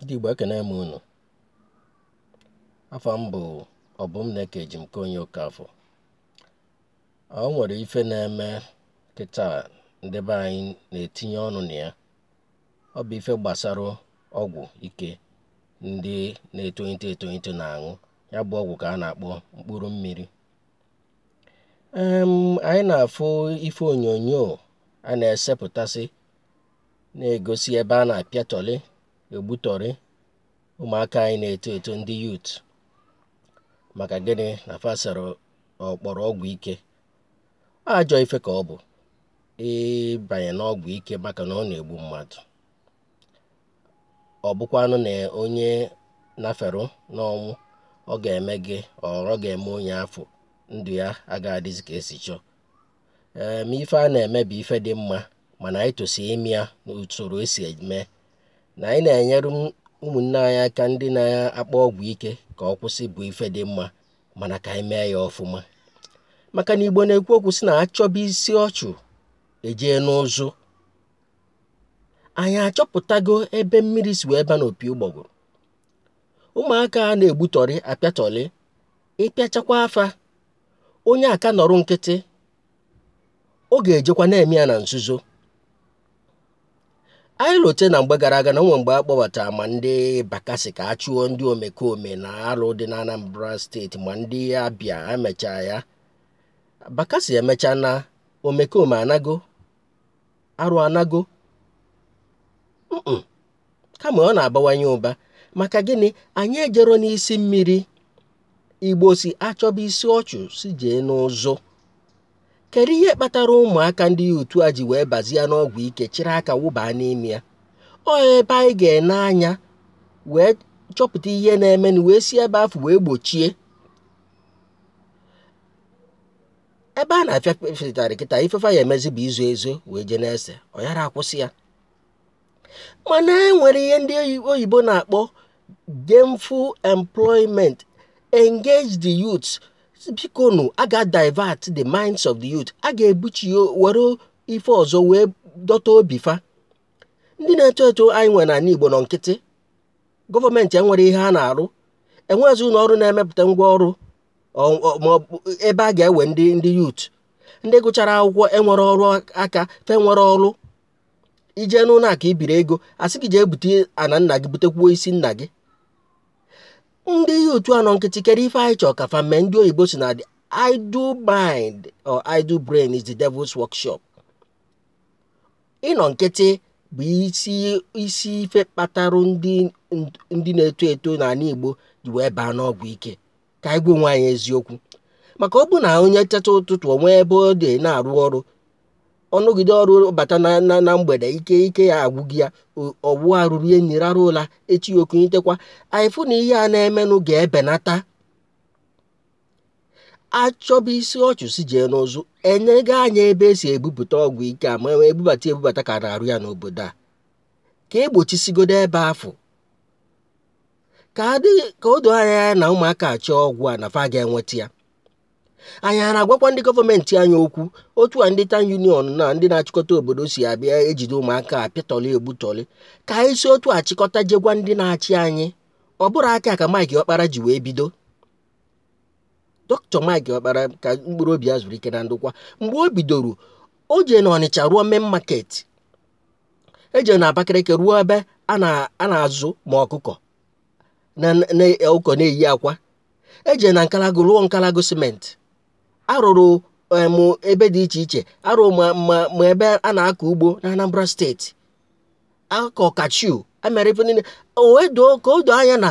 ndị Igbo ekene m unu afa m bụ Ọbụmneke Ejimkonye Okafọ o nwere ife na-eme kịta ndị be anyị na-etinye ọnụ na ya ọ bụ ife gbasara ọgwụ ike ndị na-etolite etolite na-aṅụ ya bụ ọgwụ ka a na-akpọ mkpụrụ mmiri anyị na-afụ ife onyonyo a na-esepụtasị na-egosi ebe a na-apịatọrị egbutọrị ụmụaka anyị na-eto eto ndị youth maka gịnị na fa sara ọkpọrọ ọgwụ ike ajọ ife ka ọ bụ ịbanye n'ọgwụ ike maka na ọ na-egbu mmadụ ọ bụkwanụ na onye naferụ n'ọnwụ ọ ga-eme gị ọ ga-eme onye afụ ndụ ya agaghị adịzi ka e si chọọ ee ma ife a na-eme bụ ife dị mma mana anyị tosi ime ya n'usoro e si eme na anyị na-enyere ụmụnne anyị aka ndị na-akpọ ọgwụ ike ka ọ kwụsị bụ ife dị mma mana ka anyị mee ya ọfụma maka na Igbo na-ekwu okwu sị na a chọba isi ọchụ e jee n'ụzụ anyị achọpụtago ebe mmiri si wee ba n'opi ụgbọgụrụ ụmụaka a na-egbutọrị apịatọrị ị pịachakwaa fa onye aka nọrọ nkịtị ọ ga-ejekwa na-eme ya na nzuzo anyị lote na mgbe gara aga na o nwe mgbe a kpọbata ma ndị Bakassi ka a chụọ ndị omekome na alụ dị na Anambra steeti ma ndị Abịa emechaa ya Bakassi emechaa naa omekome anago arụ anago kama ọ na-abawanye ụba maka gịnị anyị ejero n'isi mmiri Igbo sị a chọba isi ọchụ si jee n'ụzụ kedu ihe kpatara ụmụaka ndị youth a ji wee bazie n'ọgwụ ike chịrị aka wụba n'ime ya ọ ebe anyị ga-ene anya wee chọpụta ihe na-emenụ wee si ebe afụ wee gbochie ebe a na-apịa fa ụtarị kịta ife fa ya-emezi bụ izo ezo wee jee na-ese ọ yara akwụsị ya mana e nwere ihe ndị oyibo na-akpọ gainful employment engage the youth bikonu a ga divert the minds of the youth a ga-ebuchi were ife ọzọ wee dọta obi fa ndị na-eto eto anyị nwere n'anị Igbo nọ nkịtị gọọmenti enwere ihe a na-arụ enweghịzi ụnọ ọrụ na-emepụta ngwa ọrụ ebe a ga-ewe ndị ndị yut ndị gụchara akwụkwọ enwerọ ọrụ aka fa enwerọ ọrụ ije n'ụlọ akụ ibiri ego asị gị jee bute ana nna gị butekwuo isi nna gị ndị yut anọ nkịtị kedụ ife anyị chọọ ka fa mee ndị oyibo sị na the idle mind or idle brain is the devil's workshop ịnọ nkịtị bụ isi isi ife kpatara ndị na-eto eto n'ala igbo ji wee baa n'ọgwụ ike ka anyị gwa onwe anyị eziokwu maka ọ bụ na onye teta ụtụtụ o nwee ebe ọ dị na-arụ ọrụ ọ rụgide ọrụ bata na mgbede ike ike ya agwụghị ya ọ wụọ arụ rie nri rara ụla echi o kunitekwa anyị fụ na ihe a na-emenụ ga-ebenata achọba isi ọchụ si jee n'ụzụ enega anya ebe e si ebupụta ọgwụ ike a ma ebubata ebubata ka a na-arụ ya n'obodo a ka egbochisigodo ebe afụ ka adịghị ka o doo anya ya na ụmụaka achọọ ọgwụ a na fa ga-enweta ya anyị a na-agwakwa ndị gọọmenti anyị okwu otu a ndị town union na ndị na-achịkọta obodo si abịa ejide ụmụaka apịatọlị egbutọlị ka anyị si otu a chịkọta je gwa ndị na-achị anyị ọ bụrụ aka ka Mike Ọkpara ji wee bido dọkịta Mike Ọkpara ka mkpụrụ obi ya zuru ike na ndokwa mgbe o bidoro o jee na Ọnịcha rụọ main market ejere na Abakaliki rụọ ebe a na-azụ ma ọkụkọ na ọkụkọ na-eyi akwa ejere na Nkalagụ rụọ Nkalagụ simenti arụrụ ma ebe dị iche iche arụ ma ebe a na-akọ ugbo na Anambra steeti akọ cashew emere ife niile ka o doo anya na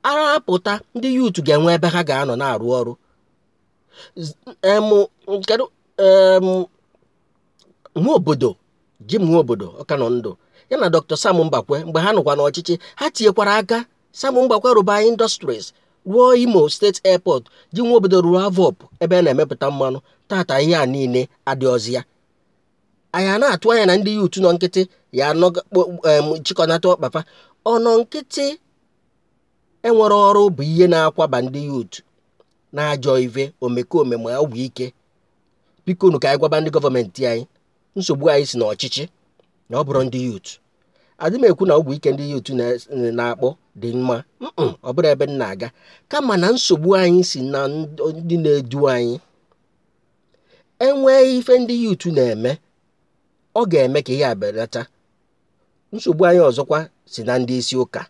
arapụta ndị yut ga-enwe ebe ha ga-anọ na-arụ ọrụ Nwobodo Jim Nwobodo ọ ka nọ ndụ ya na Dr. Sam Mbakwe mgbe ha nọkwa n'ọchịchị ha tinyekwara aka Sam Mbakwe rụba industries rụọ Imo steeti airport Jim Nwobodo rụọ AVOP ebe a na-emepụta mmanụ taata ihe a niile adịrọzị ya anyị a na-atụ anya na ndị yuutu nọ nkịtị ya-achịkọnata ọkpa fa ọnọ nkịtị enwerọ ọrụ bụ ihe na-akwaba ndị yuutu n'ajọ ive omekome ma ọgwụ ike bikonu ka anyị gwaba ndị gọọmenti anyị nsogbu anyị si n'ọchịchị na ọ bụrọ ndị yut adị m ekwu na ọgwụ ike ndị yut na-akpọ dị mma ọ bụrọ ebe m na-aga kama na nsogbu anyị si na ndị na-edu anyị enwee ife ndị yut na-eme ọ ga-eme ka ihe a belata nsogbu anyị ọzọkwa si na ndị isi ụka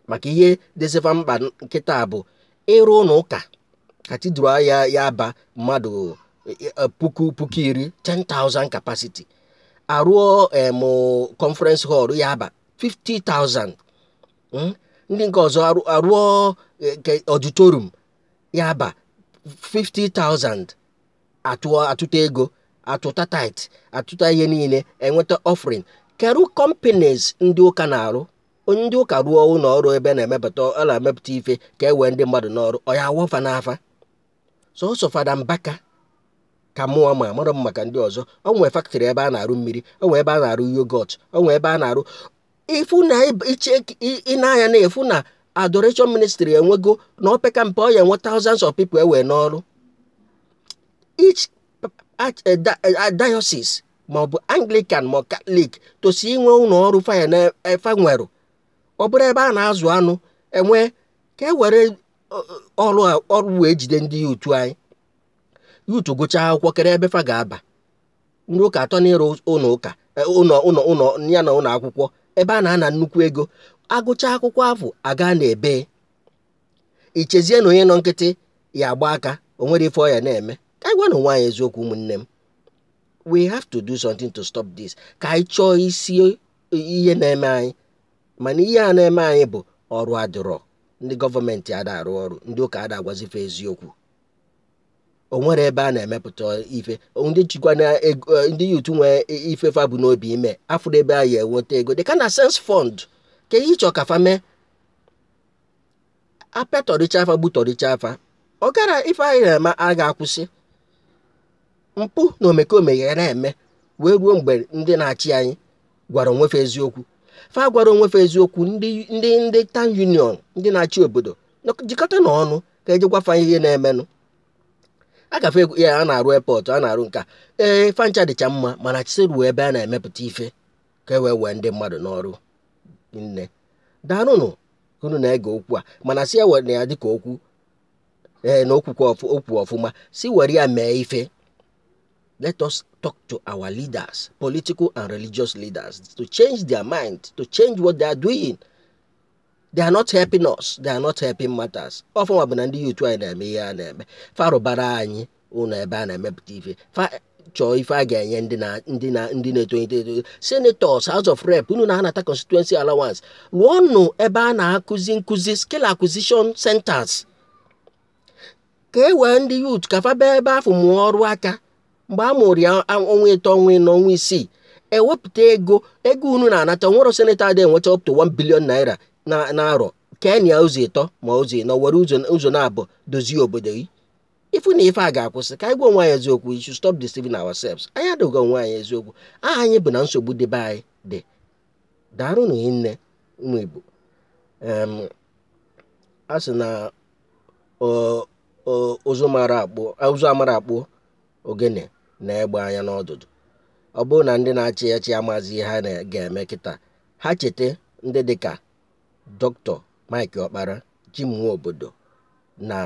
maka ihe dịzị fa mkpa kịta bụ ịrụ ụlọ ụka cathedral ya ya aba mmadụ e, e, puku puku iri 10,000 capacity arụọ em conference hall ya aba 50,000 mm? ndị nke ọzọ arụ- arụọ e, ke- auditorium ya aba 50,000 atụọ atụta ego atụta tithe atụta ihe niile eweta offering kedu companies ndị ụka na-arụ o nwee ndị ụka rụọ ụlọ ọrụ ebe na-emepụta ọ na-emepụta ife ka e wee ndị mmadụ n'ọrụ ọ ya awọ fa n'afa sọsọ fada mbaka ka mụ ma amarọ m maka ndị ọzọ o nwee factory ebe a na-arụ mmiri o nwee ebe a na-arụ yoghurt o nwee ebe a na-arụ ife dị iche i nee anya n'ife na adoration ministry ewego na opeka mpe ọ ya enwe thousands of people e wee n'ọrụ each diocese ma ọ bụ anglican ma katọlik tosi inwe ụlọ ọrụ fa ya na fa nwere ọ bụrụ ebe a na-azụ anụ e nwee ka e were ọrụ ọrụ wee jide ndị youth anyị youth gụchaa akwụkwọ kedu ebe fa ga-aba ndị ụka atọ n'ịrụ ụlọ ụka ụlọ ụlọ ụlọ ya na ụlọ akwụkwọ ebe a na-ana nnukwu ego a gụchaa akwụkwọ afụ a gaa n'ebee i chezie na onye nọ nkịtị ya agba aka o nwere ife ọ ya na-eme ka anyị gwanụ onwe anyị eziokwu ụmụnne m we have to do something to stop this ka anyị chọọ isi ihe na-eme anyị mana ihe a na-eme anyị bụ ọrụ adịrọ ndị gọọmenti ada arụ ọrụ ndị ụka ada agwazi fa eziokwu o nwerọ ebe a na-emepụta ife ndị jikwa na e, ndị youth nwee ife fa bu n'obi ime afụrọ ebe a ya enweta ego dị ka na sense fund kee ihe ị chọ ka fa mee a pịatọrịchaa fa gbutọrịchaa fa ọ gara ife anyị na-eme a ga-akwụsị mpụ na omekome ya na-eme wee ruo mgbe ndị na-achị anyị gwara onwe fa eziokwu fa gwara onwe fa eziokwu ndị ndị ndị town union ndị na-achị obodo jikọta na ọnụ ka e ji gwa fa ihe na-emenụ agafe ya a na-arụ airport a na-arụ nke a fa ncha dịcha mma mana jisie rụọ ebe a na-emepụta ife ka e wee wee ndị mmadụ n'ọrụ nne daalụnụ unu na-ege okwu a mana sị ewerena ya dịka okwu ee na okwukwe okwu efu ma sị were ya mee ife let us talk to our leaders political and religious leaders to change their mind to change what they are doing they are not helping us they are not helping matters ọ fa nwa bụ na ndị youth anyị na-eme ihe a na-eme fa rụbara anyị ụlọ ebe a na-emepụta ife chọọ ife a ga-enye ndị na ndị na ndị na-etolite eto senators house of rep unu na-anata constituency allowance rụọnụ ebe a na-akụzi nkụzi skill acquisition centers ka e wee ndị youth ka fa bịa ebe afụ mụọ ọrụ aka mgbe a mụrụ ya ọnwa ịtọ ọnwa ịnọ ọnwa isii e wepụta ego ego unu na-anata nwerọ senator adị enweta up to 1 billion naira n'arọ kee nya ụzọ ịtọ ma ụzọ ịnọ were ụzọ naabọ dozie obodo gị ị fụ na ife a ga-akwụsị ka anyị gwa onwe anyị eziokwu we should stop deceiving ourselves anyị adị agwa onwe anyị eziokwu aha anyị bụ na nsogbu dị be anyị dị daarụ na nne ụmụ Igbo a sị na ụzụ mara akpụ ụzụ amara akpụ ogene nee egbe anya n'ọdụdụ ọ bụrụ na ndị na-achị achị amazi ihe ha ga-eme kịta ha cheta ndị dịka dọkịta Mike Ọkpara Jim Nwobodo na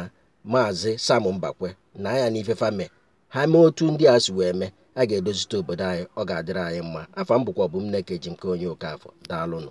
maazị Sam Mbakwe nee anya n'ife fa me ha mee otu ndị a si wee mee a ga-edozite obodo anyị ọ ga-adịrị anyị mma afa m bụkwa Ọbụmneke Ejinkeonye Okafọ daalụnụ